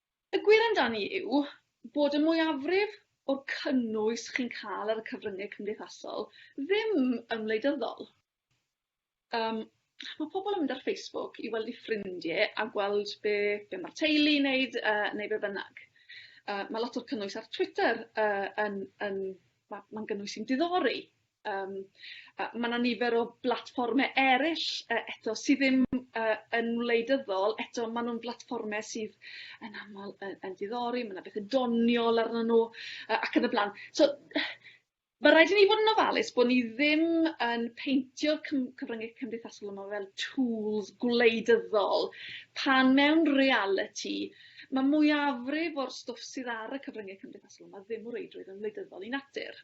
Y gwir amdani yw bod y mwyafrif o'r cynnwys chi'n cael ar y cyfryngau cymdeithasol ddim yn wleidyddol. Yym, mae pobl yn mynd ar Facebook i weld eu ffrindie a gweld be be mae'r teulu'n neud yy neu be bynnag. Yy, mae lot o'r cynnwys ar Twitter yy yn yn ma' ma'n gynnwys sy'n diddori. Yym a ma' 'na nifer o blatfforme eryll yy eto sy ddim yy yn wleidyddol eto ma' nw'n blatfforme sydd yn amal yy yn diddori ma' 'na bethe doniol arnyn nw yy ac yn y bla'n. So ma' raid i ni fod yn ofalus bo' ni ddim yn peintio'r cym- cyfrynge cymdeithasol yma fel tŵls gwleidyddol pan mewn realiti ma' mwyafrif o'r stwff sydd ar y cyfrynge cymdeithasol 'ma ddim o reidrwydd yn wleidyddol i natur.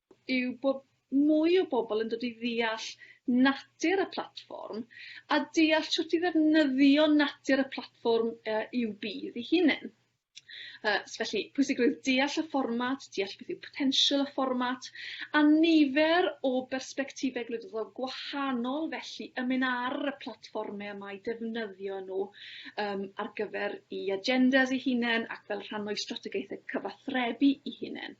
yw bod mwy o bobl yn dod i ddeall natur y platfform a deall shwt i ddefnyddio natur y platfform i'w budd ei hunen. So felly, pwysigrwydd deall y fformat, deall beth yw potensial y fformat, a nifer o bersbectifau gwleidyddol gwahanol felly yn mynd ar y platfformau yma i defnyddio nhw um, ar gyfer i agendas ei hunain ac fel rhan o'i strategaethau cyfathrebu ei hunain.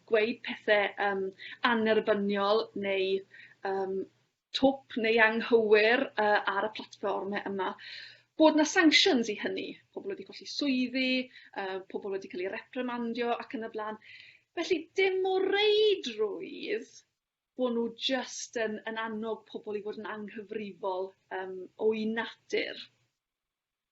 gweud pethe yym annerbyniol neu yym twp neu anghywir yy ar y platfforme yma bod 'na sanctions i hynny, pobol wedi colli swyddi, yy pobol wedi ca'l 'u reprimandio ac yn y bla'n. Felly dim o reidrwydd bo' nw jyst yn yn annog pobol i fod yn anghyfrifol yym o'u natur.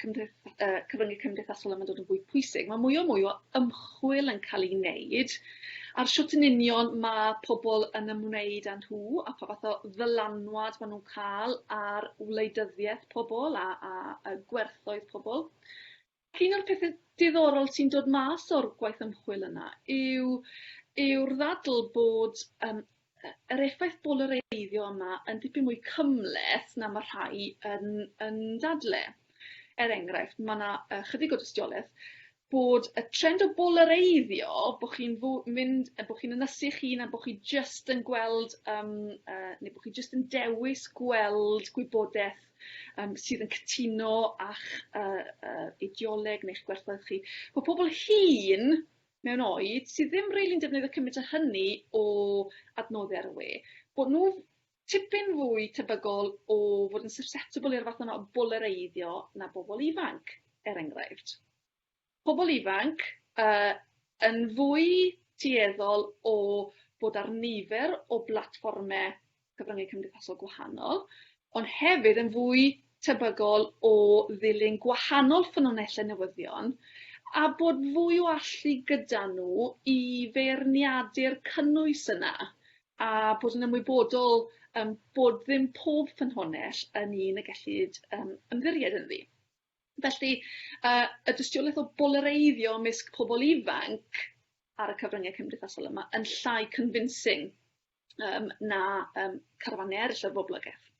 cymdeitha- yy cyfrynge cymdeithasol yma'n dod yn fwy pwysig ma' mwy o mwy o ymchwil yn ca'l 'i neud ar shwt yn union ma' pobol yn ymwneud â nhw a pha fath o ddylanwad ma' nw'n ca'l ar wleidyddieth pobol a a a gwerthoedd pobol. Ac un o'r pethe diddorol sy'n dod mas o'r gwaith ymchwil yna yw yw'r ddadl bod yym y yr effaith bolareiddio yma yn dipyn mwy cymhleth na ma' rhai yn yn dadle. Er enghraifft ma' 'na yy chydig o dystioleth bod y trend o bolareiddio bo' chi'n fo- mynd yy bo' chi'n ynysu 'ych hun a bo' chi jyst yn gweld yym yy ne' bo' chi jyst yn dewis gweld gwybodeth yym sydd yn cytuno â'ch yy yy ideoleg neu'ch gwerthoedd chi. Ma' pobol hŷn mewn oed sydd ddim rili'n defnyddio cymaint â hynny o adnoddau ar y we, bod nhw tipyn fwy tebygol o fod yn susceptible i'r fath yma o bolareiddio na bobl ifanc, er enghraifft. Pobl ifanc uh, yn fwy tueddol o bod ar nifer o blatfformau cyfryngau cymdeithasol gwahanol, ond hefyd yn fwy tebygol o ddilyn gwahanol ffynonellau newyddion a bod fwy o allu gyda nhw i feirniadu'r cynnwys yna a bod yn ymwybodol um, bod ddim pob ffynhonell yn un y gellid um, ymddiried ynddi. Felly, uh, y dystiolaeth o bolareiddio ymysg pobl ifanc ar y cyfryngau cymdeithasol yma yn llai convincing yym na yym carafannau eryll o'r boblogaeth.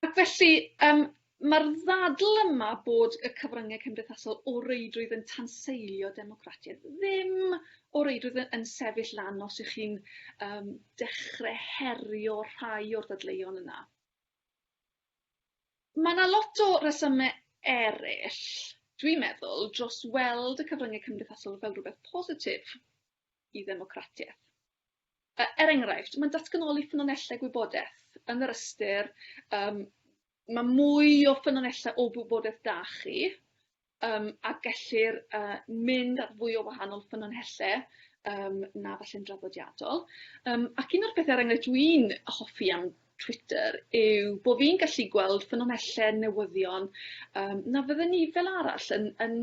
Ac felly yym ma'r ddadl yma bod y cyfrynge cymdeithasol o reidrwydd yn tanseilio democratiaeth ddim o reidrwydd y- yn sefyll lan os ych chi'n yym dechre herio rhai o'r ddadleuon yna. Ma' 'na lot o resyme eryll dwi'n meddwl dros weld y cyfrynge cymdeithasol fel rwbeth positif. i ddemocratiaeth. Er enghraifft, mae'n datganoli ffynonellau gwybodaeth yn yr ystyr um, mae mwy o ffynonellau o wybodaeth da chi um, a gellir uh, mynd at fwy o wahanol ffynonellau um, na falle'n draddodiadol. Um, ac un o'r pethau er enghraifft dwi'n hoffi am Twitter yw bod fi'n gallu gweld ffynonellau newyddion um, na fydden ni fel arall yn, yn,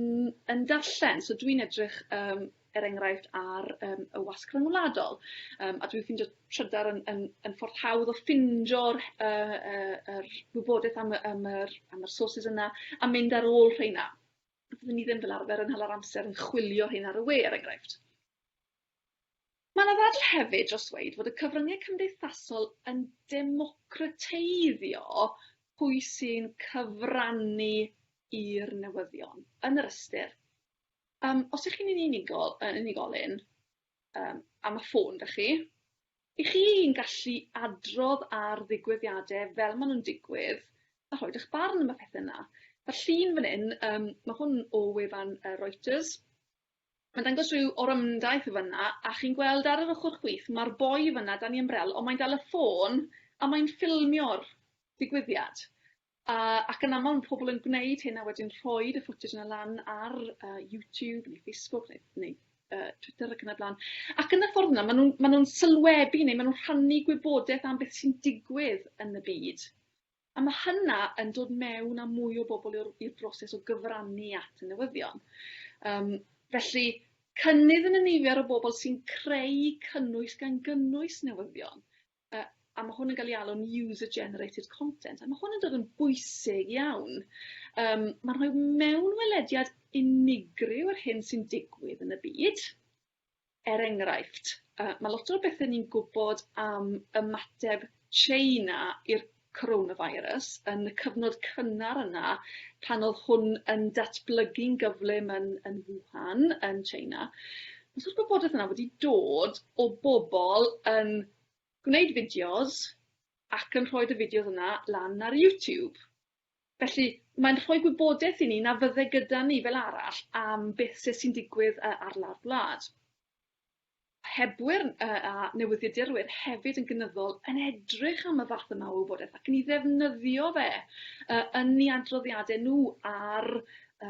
yn darllen. So dwi'n edrych um, er enghraifft ar yym y wasg rhyngwladol yym a dwi'n ffindio trydar yn yn yn ffordd hawdd o ffindo'r yy yy yr wybodaeth am y am yr am yr sources yna a mynd ar ôl rheina. Fyddwn ni ddim fel arfer yn hala'r amser yn chwilio rheina ar y we er enghraifft. Mae yna ddadl hefyd dros ddweud fod y cyfryngau cymdeithasol yn democrateiddio pwy sy'n cyfrannu i'r newyddion yn yr ystyr Yym os y'ch chi'n yn unigol yy unigolyn yym am y ffôn 'da chi, 'ych chi'n gallu adrodd ar ddigwyddiade fel ma' nw'n digwydd a rhoid 'ych barn am y pethe 'na. Ma'r llun fan 'yn yym ma' hwn o wefan yy Reuters ma'n dangos ryw orymdaith y' fynna a chi'n gweld ar yr ochor chwith ma'r boi fynna dan 'i ymbrel on' mae'n dal y ffôn a mae'n ffilmio'r digwyddiad. Ac yn aml mae pobl yn gwneud hyn a wedyn rhoid y footage yna lan ar uh, YouTube neu Facebook neu, neu uh, Twitter ac yn y blaen. Ac yn y ffordd yna, maen nhw'n ma nhw sylwebu neu maen nhw'n rhannu gwybodaeth am beth sy'n digwydd yn y byd. A mae hynna yn dod mewn a mwy o bobl i'r broses o gyfrannu at y newyddion. Um, felly, cynnydd yn y nifer o bobl sy'n creu cynnwys gan gynnwys newyddion. a a ma' hwn yn ga'l 'i alw'n user generated content a ma' hwn yn dod yn bwysig iawn yym ma'n rhoi mewnwelediad unigryw o'r hyn sy'n digwydd yn y byd. Er enghraifft yy ma' lot o'r bethe ni'n gwbod am ymateb Tsieina i'r coronavirus yn y cyfnod cynnar yna pan o'dd hwn yn datblygu'n gyflym yn yn Wuhan yn China os odd gwybodeth yna wedi dod o bobol yn gwneud fideos ac yn rhoid y fideos yna lan ar YouTube. Felly mae'n rhoi gwybodeth i ni na fydde gyda ni fel arall am beth se sy'n digwydd yy ar lawr gwlad. Hebwyr a newyddiadurwyr hefyd yn gynyddol yn edrych am y fath yma o wybodaeth ac yn ei ddefnyddio fe yn eu adroddiadau nhw ar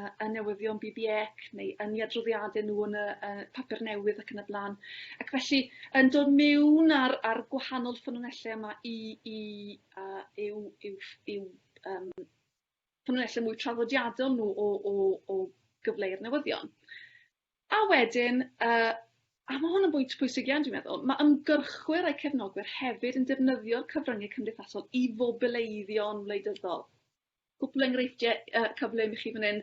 y newyddion BBEC neu yn eu adroddiadau nhw yn y papur newydd ac yn y blaen. Ac felly, yn dod mewn ar, ar gwahanol ffynonellau yma i, i uh, yw, yw, yw um, ffynonellau mwy traddodiadol nhw o, o, o gyfleu'r newyddion. A wedyn, yy, a ma' hwn yn bwynt pwysig iawn dwi'n meddwl, ma' ymgyrchwyr a'u cefnogwyr hefyd yn defnyddio'r cyfryngau cymdeithasol i fobileiddio'n wleidyddol. Cwpl o enghreifftiau yy cyflym i chi fan 'yn.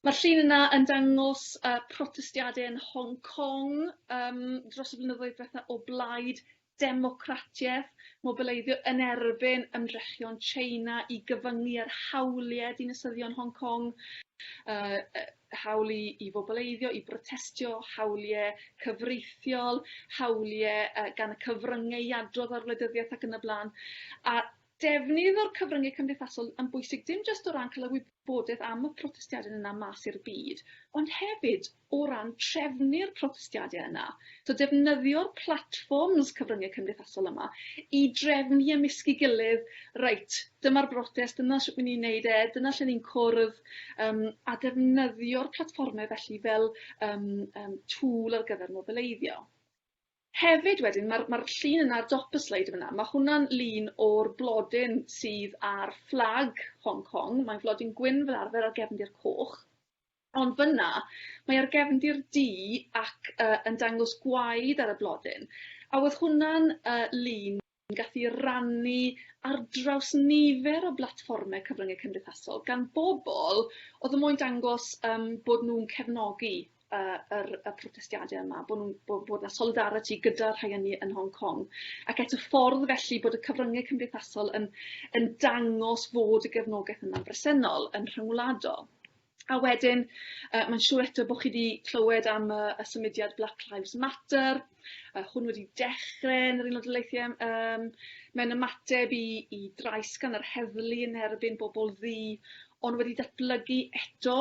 Ma'r llun yna yn dangos yy protestiade yn Hong Kong yym dros y blynyddoedd dwetha o blaid democratiaeth, mobileiddio yn erbyn ymdrechion China i gyfyngu ar hawliau dinasyddion Hong Kong, hawl i, i fobileiddio, i brotestio, hawliau cyfreithiol, hawliau gan y cyfryngau i adrodd ar wleidyddiaeth ac yn y blaen. A Defnydd o'r cyfryngau cymdeithasol yn bwysig dim jyst o ran cael y wybodaeth am y protestiadau yna mas i'r byd, ond hefyd o ran trefnu'r protestiadau yna. So defnyddio'r platfforms cyfryngau cymdeithasol yma i drefnu ymysg'i gilydd, reit, dyma'r brotest, dyna sut 'y ni'n neud e, dyna lle ni'n cwrdd, um, a defnyddio'r platfformau felly fel um, um, tŵl ar gyfer mobileiddio. Hefyd wedyn ma'r ma'r llun yna ar dop y sleid yn fan'na, ma' hwnna'n lun o'r blodyn sydd ar fflag Hong Kong, mae'n flodyn gwyn fel arfer ar gefndir coch, ond fan'na mae ar gefndir du ac yy yn dangos gwaed ar y blodyn, a o'dd hwnna'n yy lun yn gallu rannu ar draws nifer o blatfformau cyfryngau cymdeithasol gan bobl oedd yn moyn dangos yym bod nhw'n cefnogi y yr y protestiadau yma, bod nhw'n bod bod 'na solidariti gyda'r rhai ynni yn Hong Kong. Ac eto ffordd felly bod y cyfryngau cymdeithasol yn yn dangos fod y gefnogaeth yna'n bresennol, yn rhyngwladol. A wedyn yy mae'n siŵr eto bo' chi 'di clywed am y y symudiad Black Lives Matter, yy hwn wedi dechre yn yr Unol Daleithie yym yym mewn ymateb i i drais gan yr heddlu yn erbyn bobol ddu ond wedi datblygu eto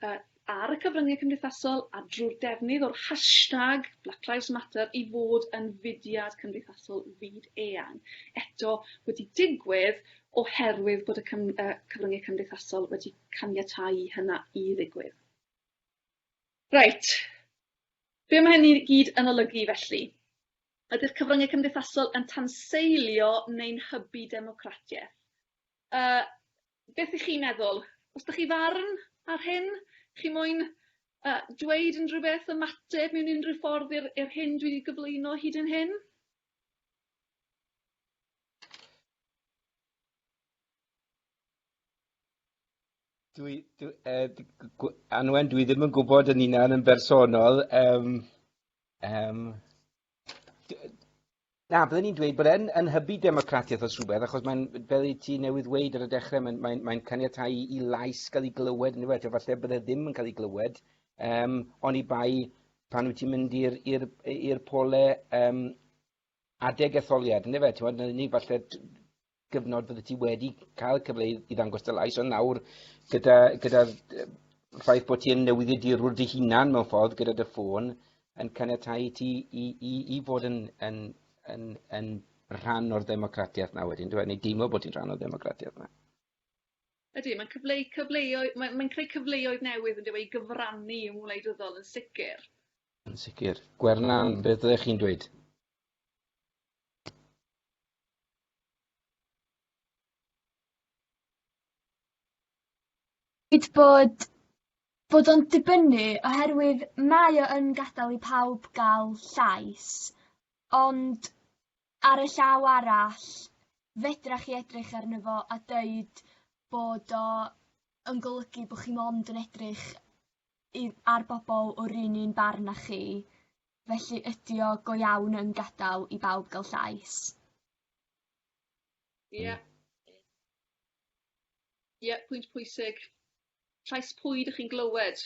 yy ar y cyfrynge cymdeithasol a drw'r defnydd o'r hashtag Black Lives Matter i fod yn fudiad cymdeithasol fyd eang. Eto wedi digwydd oherwydd bod y cym- yy cyfrynge cymdeithasol wedi caniatáu i hynna i ddigwydd. Reit, be mae hyn i gyd yn olygu felly? Ydy'r cyfryngau cymdeithasol yn tanseilio neu'n hybu democratiaeth? Yy, beth ych chi'n meddwl? Os da chi farn ar hyn? Chi moyn uh, dweud unrhyw beth, ymateb mewn unrhyw ffordd i'r, i'r hyn dwi wedi gyflwyno hyd yn hyn? Dwi dwi yy d- g- gw- Anwen dwi ddim yn gwybod yn hunan yn bersonol yym yym d- yy na bydden i'n dweud bod e'n yn hybu democratiaeth os rhywbeth achos mae'n fel i ti newydd weud ar y dechrau mae'n mae'n mae'n caniatáu i i lais gael ei glywed yndyfe eto falle bydde ddim yn cael ei glywed yym oni bai pan wyt ti'n mynd i'r i'r i'r pole yym adeg etholiad yndyfe t'mod na'r unig falle gyfnod fyddet ti wedi cael cyfle i, i ddangos dy lais, ond nawr gyda, gyda ffaith bod ti yn newyddiadurwr dy hunan mewn ffordd gyda dy ffôn yn caniatau i ti i, i, i fod yn, yn, yn, yn rhan o'r ddemocratiaeth na wedyn, dwi'n neu deimlo bod ti'n rhan o'r ddemocratiaeth na. Ydy, mae'n cyfleu, cyfleoedd, mae'n mae creu cyfleoedd newydd yn dweud i gyfrannu yng ngwleidyddol yn sicr. Yn sicr. Gwernan, beth ydych chi'n dweud? Dweud bod bod o'n dibynnu oherwydd mae o yn gadel i pawb ga'l llais ond ar y llaw arall fedrach chi edrych arno fo a deud bod o yn golygu bo' chi mond yn edrych i ar bobol o'r un un barn â chi Felly ydi o go iawn yn gadal i bawb ga'l llais? Ie. Ie pwynt pwysig. Llais pwy dych chi'n glywed?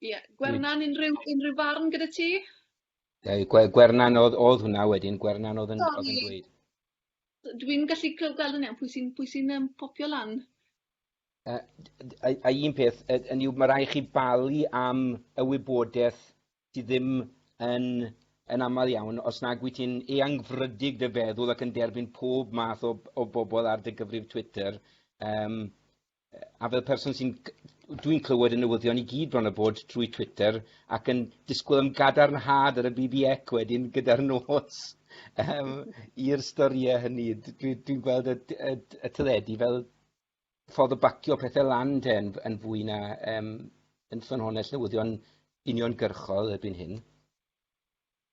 Ie. Gwernan unrhyw unrhyw farn gyda ti? Yy gwe- Gwernan oedd oedd hwnna wedyn Gwernan oedd yn oedd yn dweud. Dwi'n gallu clyw- gweld yn iawn pwy sy'n pwy sy'n yym popio lan. Yy a a un peth yy hynny yw ma' rai' chi balu am y wybodeth sy ddim yn yn aml iawn os nag wyt ti'n eangfrydig dy feddwl ac yn derbyn pob math o b- o bobl ar dy gyfrif Twitter yym yy a fel person sy'n c- dwi'n clywed y newyddion i gyd bron a bod trwy Twitter ac yn disgwyl am gadarnhad ar y BBEC wedyn gyda'r nos yym i'r storie hynny d- dwi dwi'n gweld y d- y d- y teledu fel ffordd o bacio pethau lan te yn, yn fwy na um, yn ffynhonnell newyddion uniongyrchol erbyn hyn.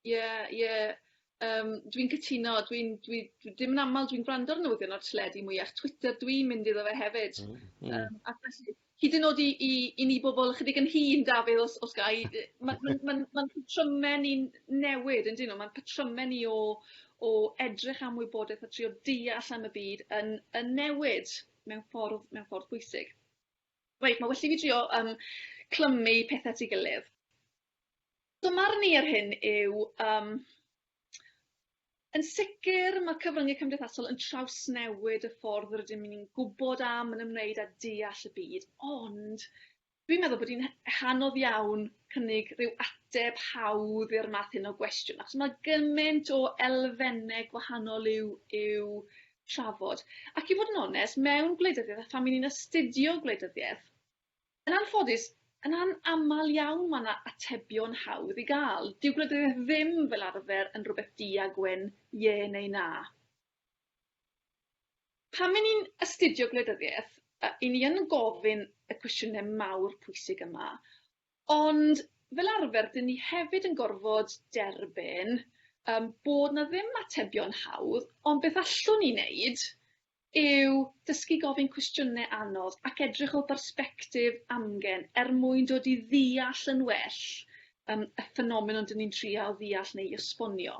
Ie, yeah, ie. Yeah. Um, dwi'n cytuno, dwi'n, dwi, dwi, dim yn aml dwi'n gwrando'r newyddion o'r tledi mwyach Twitter, dwi'n mynd iddo fe hefyd. Mm, mm. Um, a felly, hyd yn oed i, i, i ni bobl ychydig yn hun, Dafydd, os, os gai, mae'n ma, ma, ma, ma, ma patrymen ni'n newid, yn dyn nhw, mae'n patrymen ni o, o edrych am wybodaeth a trio deall am y byd yn yn newid mewn ffordd mewn ffordd bwysig. Reit ma' well i fi drio yym clymu pethe at 'i gilydd. Fy marn i ar hyn yw yym yn sicr ma' cyfrynge cymdeithasol yn trawsnewid y ffordd rydym ni'n gwbod am, yn ymwneud â deall y byd ond Dwi'n meddwl bod hi'n h- hanodd iawn cynnig rhyw ateb hawdd i'r math hyn o gwestiwn achos ma' gyment o elfenne gwahanol i'w i'w trafod ac i fod yn onest mewn gwleidyddiaeth a phan 'yn ni'n astudio gwleidyddiaeth yn anffodus yn an- amal iawn ma' 'na atebion hawdd i ga'l. Dyw gwleidyddiaeth ddim fel arfer yn rwbeth du a gwyn, ie neu na. Pan ry'n ni'n astudio gwleidyddiaeth, ry'n ni yn gofyn y cwestiynau mawr pwysig yma, ond fel arfer ry'n ni hefyd yn gorfod derbyn yym bod 'na ddim atebion hawdd, ond beth allwn ni wneud yw dysgu gofyn cwestiynau anodd ac edrych o bersbectif amgen er mwyn dod i ddeall yn well yym y ffenomenon 'dyn ni'n trial ddeall neu esbonio.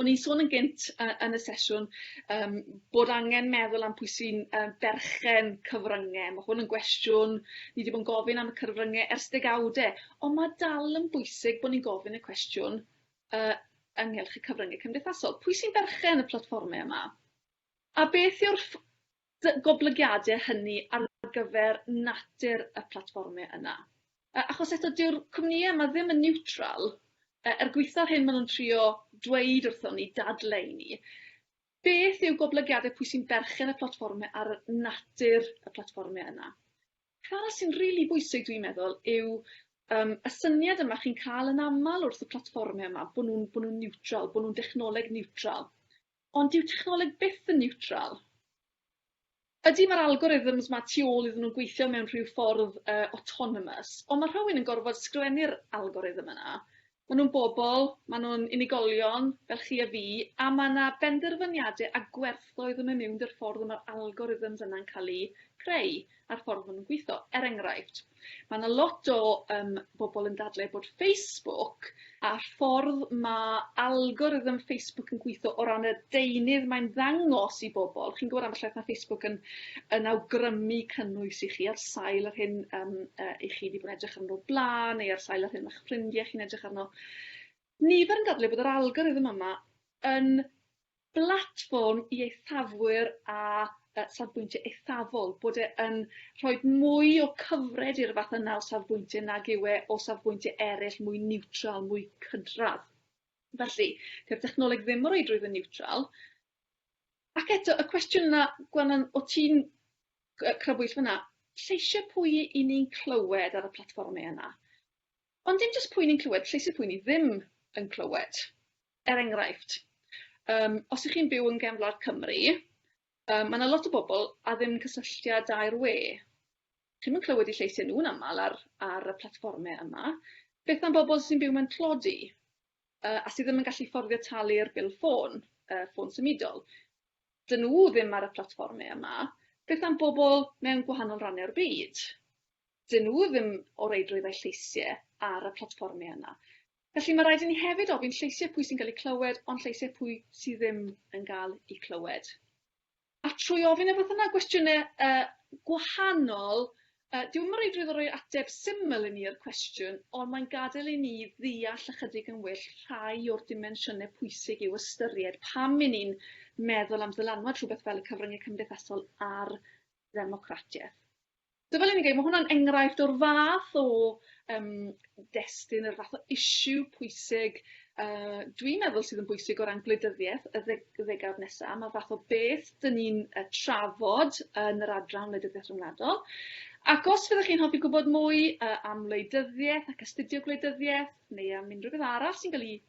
O'n i'n sôn yn gynt yy yn y sesiwn yym bod angen meddwl am pwy sy'n yym berchen cyfrynge. Ma' hwn yn gwestiwn ni 'di bod yn gofyn am y cyfrynge ers degawde, on' ma' dal yn bwysig bo' ni'n gofyn y cwestiwn yy ynghylch y cyfrynge cymdeithasol. Pwy sy'n berchen y platfforme yma? A beth yw'r ff- Dy goblygiade hynny ar gyfer natur y platfforme yna. Yy achos eto dyw'r cwmnïe yma ddim yn niwtral yy er gwaetha'r hyn ma' nhw'n trio dweud wrthon ni, dadle i ni. Beth yw goblygiade pwy sy'n berchen y platfforme ar natur y platfforme yna. Peth arall sy'n rili bwysig dwi'n meddwl yw yym y syniad yma chi'n ca'l yn amal wrth y platfforme yma bo' nhw'n bo' nhw'n niwtral, bo' nhw'n dechnoleg niwtral. Ond dyw technoleg byth yn niwtral. Ydy, mae'r algorithms 'ma tu ôl iddyn nhw'n gweithio mewn rhyw ffordd autonomous, ond mae rhywun yn gorfod sgrifennu'r algorithm yna. Maen nhw'n bobl, maen nhw'n unigolion, fel chi a fi, a mae 'na benderfyniadau a gwerthoedd yn mynd miwn 'da'r ffordd y mae'r algorithms yna'n cael eu creu. a'r ffordd maen nhw'n gweithio. Er enghraifft, mae yna lot o um, bobl yn dadlau bod Facebook a'r ffordd mae algorithm Facebook yn gweithio o ran y deunydd mae'n ddangos i bobl. Chi'n gwybod am ambell mae Facebook yn, yn awgrymu cynnwys i chi ar sail yr hyn um, uh, i chi wedi bod yn edrych arno o'r blaen neu ar sail yr hyn mae'ch ffrindiau chi'n edrych arno. Nifer yn dadlau bod yr algorithm yma yn blatfform i eithafwyr a yy safbwyntie eithafol, bod e yn rhoi mwy o cyfred i'r fath yna o safbwyntie nag yw e o safbwyntie eryll mwy niwtral, mwy cydradd. Felly, dyw'r dechnoleg ddim o reidrwydd yn niwtral. Ac eto, y cwestiwn yna, Gwennan, o ti'n yy crybwyll fyna, lleisiau pwy i ni'n clywed ar y platfformau yna? Ond dim jyst pwy ni'n clywed, lleisiau pwy ni ddim yn clywed. Er enghraifft yym os y'ch chi'n byw yn gefn gwlad Cymru yy ma' 'na lot o bobol a ddim cysylltiad â'r we. Chi'm yn clywed 'u lleisiau nhw'n amal ar ar y platfforme yma. Beth am bobol sy'n byw mewn tlodi yy a sy ddim yn gallu fforddio talu'r bil ffôn yy ffôn symudol? 'Dyn nhw ddim ar y platfforme yma. Beth am bobol mewn gwahanol ranne o'r byd? 'Dyn nhw ddim o reidrwydd â'u lleisie ar y platfforme yna. Felly, mae rhaid i ni hefyd ofyn lleisiau pwy sy'n cael eu clywed, ond lleisiau pwy sydd ddim yn cael eu clywed. A trwy ofyn y fath yna gwestiynau uh, gwahanol, uh, diw'n mynd reidrwydd o roi ateb syml i ni i'r cwestiwn, ond mae'n gadael i ni ddeall ychydig yn well rhai o'r dimensiynau pwysig i'w ystyried pam i ni'n meddwl am ddylanwad rhywbeth fel y cyfryngau cymdeithasol ar ddemocratiaeth. So fel o'n i'n gweud, ma' hwnna'n enghraifft o'r fath o yym destun, yr fath o issue pwysig yy dwi'n meddwl sydd yn bwysig o ran gwleidyddieth y ddeg- y ddegawd nesa, ma' fath o beth 'dyn ni'n yy trafod yn yr adran wleidyddiaeth ryngwladol ac os fyddech chi'n hoffi gwbod mwy yy am wleidyddieth ac astudio gwleidyddieth neu am unrhyw beth arall sy'n ga'l 'i